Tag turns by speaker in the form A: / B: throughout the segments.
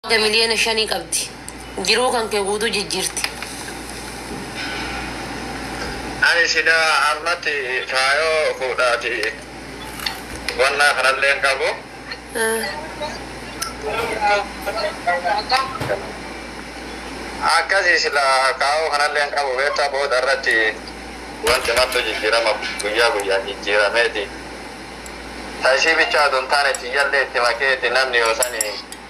A: Haga miliyoona shanii qabdi. Jiruu kan kee guutuu jijjiirti.
B: Ani silaa ammatti faayoo fuudhaati wannaa kanallee hin qabu. Akkasi silaa kaayoo kanallee hin qabu beektaa booda irratti wanti martuu jijjiirama guyyaa guyyaan jijjiirameeti. Ta isii bichaa utuu hin taane tiyyallee itti makeeti namni yoo sani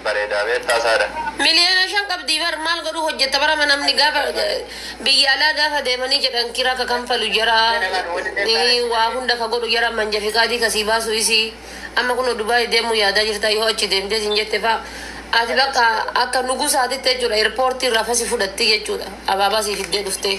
B: bareedaa beettaa saada. Miliyoona shan
A: qabdii bar maal godhuu hojjetta bar ama namni gaafa biyya alaa gaafa deemanii jedhan kira ka kanfalu jara waa hunda ka godhu jara manja fiqaadii ka sii baasu isii amma kunoo Dubai deemuu yaadaa jirta yoo achi deemtee sin jette fa ati bakka akka nugusaatitti jechuudha airport irraa fasi fudhatti jechuudha abaabaa sii fiddee dhuftee.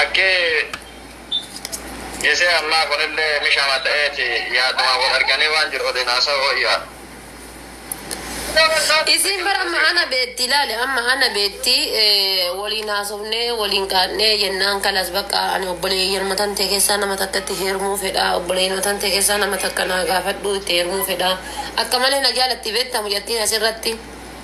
B: Akki gisee ammaa kunillee mishama ta'eeti yaadumaan wal arganii waan jiru waliin haasa'uu
A: wayya. Isiin bar amma ana beetti ilaali amma ana beetti waliin haasofnee waliin kaadhee jennaan kalas bakka ani obboleeyyan matan ta'e keessaa nama takka itti heerumuu fedha obboleeyyan matan ta'e keessaa nama takka naa gaafadhu itti heerumuu fedha akka malee na jaalatti beetta mucattiin asirratti.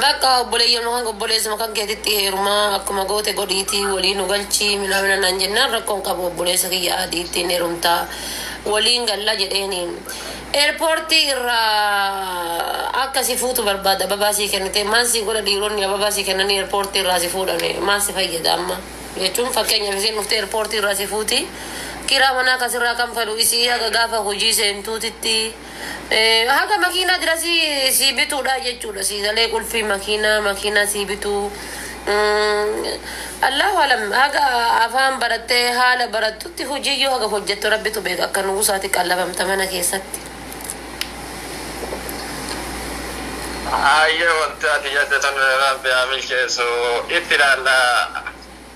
A: Bakka obboleeyyama kan obboleessuma kan keetitti heerumaa akkuma goote godhiitii walii nu galchii minaamina naan jennaan rakkoon qabu obboleessa kiyya adiittiin heerumtaa waliin galla jedheeni. Eerpoortii irraa akka si fuutu barbaada ababaa sii kennitee maal sii godha dhiironni ababaa sii kennanii eerpoortii irraa si fuudhani maal si fayyada amma jechuun fakkeenyaaf isiin dhuftee eerpoortii irraa si fuuti kiraa manaa kasirraa kanfalu isii haga gaafa hojii seentuutitti Eh, haga makiinaa dirasii sii bituudha jechuudha sii galee qulfii makiinaa makiinaa sii bituu Mm, allahu alam haga afaan barattee haala barattutti hojiiyyuu haga hojjettu rabbitu beeka akka nugusaati qallabamta mana keessatti
B: Ayyee wanti ati jette sun rabbi haa milkeessu itti ilaalla.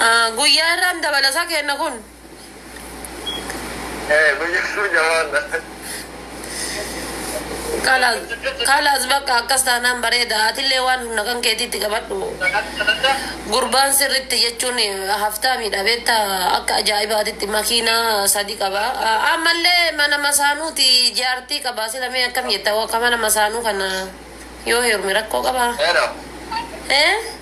B: Ah,
A: Guyyaa irraan dabalasaa kenna kun. Eh,
B: guyyaa sun jabaadha.
A: Kalaas, kalaas bakka akkas taanaan bareeda. Atillee waan humna kan keetiitti qabadhu. Gurbaan sirritti jechuun haftaa miidha beekta akka ajaa'ibaatitti makiinaa sadi qaba. Ah, Ammallee mana masaanuuti jaartii qaba. Sila mee akkam jetta akka mana masaanuu kana yoo heerume rakkoo qabaa? Eera. Eh?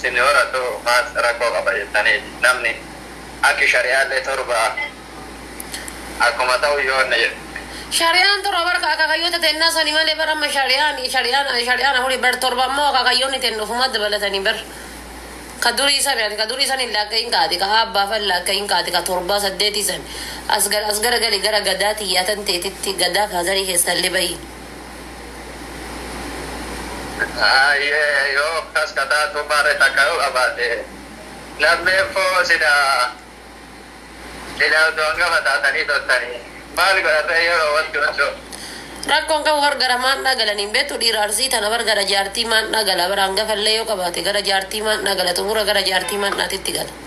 B: Sinni horattu maal rakkoo qaba jettaniiti namni akki shari'aallee torba akkuma ta'u yoo inni jedhe. Shari'aan torba
A: bar ka akakayyoota tennaa sani malee bar amma shari'aan shari'aan shari'aan afuri bar torba ammoo akakayyoonni tenna ofumaa dabalatanii bar ka durii sani ati ka durii sani hin laakkayin kaati ka aabbaa fa hin laakkayin kaati ka torbaa saddeetii san as gar as gara gali gara gadaa tiyyaa tan teetitti gadaa faadarii keessallee bayi.
B: Hayyee yoo akkas ka taatu maarre takka yoo qabaate lammeeffoo silaa silaa utuu hangafa taatanii turtanii maal godhan ree yeroo wanti kun ta'u. Rakkoon
A: qabu bar gara maandhaa galanii hin beektu dhiira arsii tana bar gara jaartii maandhaa gala bar hangafa illee yoo qabaate gara jaartii maandhaa gala xumura gara jaartii maandhaatitti gala.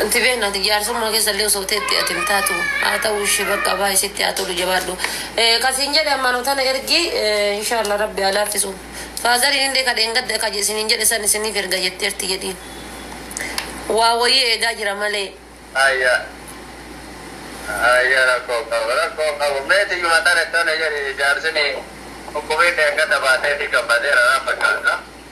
A: Anti beekna ati jaarsummaa keessa illee osoo teetti ati hin taatu. Haa ta'u ishii bakka abaa isitti haa tolu jabaadhu. Eh, Kasiin jedhe ammaanoo tana ergi eh, inshaalla rabbi haa laaffisu. Faazariin illee ka dheengadda ka isiniin jedhe san isiniif erga jetteerti jedhiin. Waa wayii eegaa jira malee. Aya aya rakkoo
B: qaba rakkoo qabu meeti yuma tana tana jedhi jaarsini dhukkubiin dheengadda baateefi gammadeera naa fakkaata.